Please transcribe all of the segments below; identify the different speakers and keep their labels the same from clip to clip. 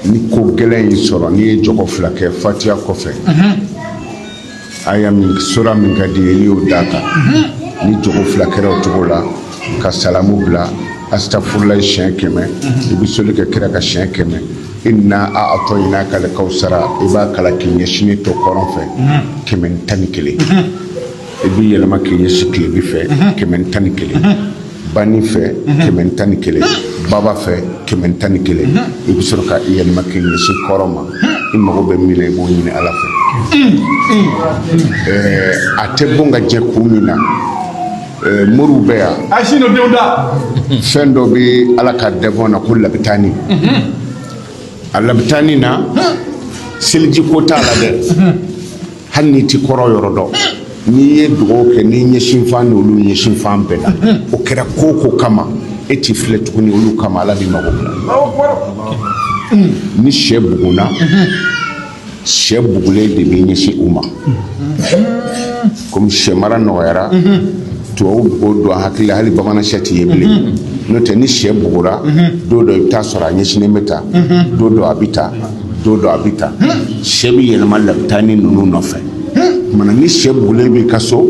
Speaker 1: ni ko gɛlɛn y'i sɔrɔ n'i ye jɔgɔ fila kɛ fatiya kɔfɛ aya min sura min ka di i ye n'i y'o d'a kan ni jɔgɔ fila kɛra o cogo la ka salamu bila asitafurulayi siɲɛ kɛmɛ i bɛ soli kɛ kira kan siɲɛ kɛmɛ ina atayinaka alikawsara i b'a kalan k'i ɲɛsinnen to kɔrɔn fɛ kɛmɛ ni tan ni kelen i b'i yɛlɛma k'i ɲɛsin tilebin fɛ kɛmɛ tan ni kelen bani fɛ kɛmɛ tan ni kelen baba fɛ kɛmɛ tan ni kelen i bɛ sɔrɔ ka i yɛlɛma k'i ɲɛsin kɔrɔn ma i mago bɛ min na i b'o ɲini ala fɛ a tɛ bon ka jɛ kun min na mori bɛ yan fɛn dɔ bɛ ala ka dɛ na ko labitani a labitani na seliji ko t'a la dɛ hali n'i tɛ kɔrɔn yɔrɔ dɔn n'i ye dugawu kɛ n'i ɲɛsinfan ni olu ɲɛsinfan bɛnna o kɛra ko ko kama e t'i filɛ tuguni olu kama ala b'i mago ni sɛ buguna sɛ bugulen de b'i ɲɛsin u ma kɔmi sɛ mara nɔgɔyara tubabu b'o don hakili hali bamanan sɛ tɛ ye bilen n'o tɛ ni sɛ bugura don dɔ i bɛ t'a sɔrɔ a ɲɛsinnen bɛ tan don dɔ a bɛ tan don dɔ a bɛ tan sɛ bɛ yɛlɛma labitani ninnu nɔfɛ mana ni sɛ bugulen b'i ka so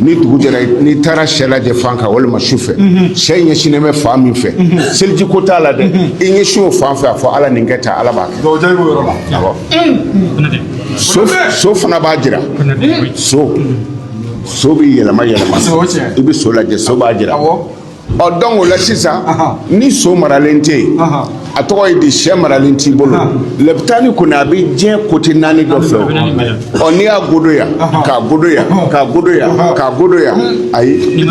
Speaker 1: ni dugu jɛra n'i taara sɛ lajɛ fan kan walima su fɛ sɛ ɲɛsinnen bɛ fan min fɛ seliji ko t'a la dɛ i ɲɛsin o fan fɛ a fɔ ala nin kɛ tan ala b'a kɛ so fana b'a jira so so bɛ yɛlɛma yɛlɛma i bɛ so lajɛ so b'a jira ɔ dɔn o la sisan ni so maralen tɛ yen a tɔgɔ ye di sɛ maralen t'i bolo labitani kɔni a bɛ diɲɛ kote naani dɔ fɛ ɔ n'i y'a godo yan k'a godo yan k'a godo yan k'a godo yan ayi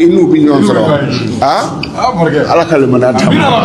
Speaker 1: i n'u bɛ ɲɔgɔn sɔrɔ aa ala ka limaniya d'an ma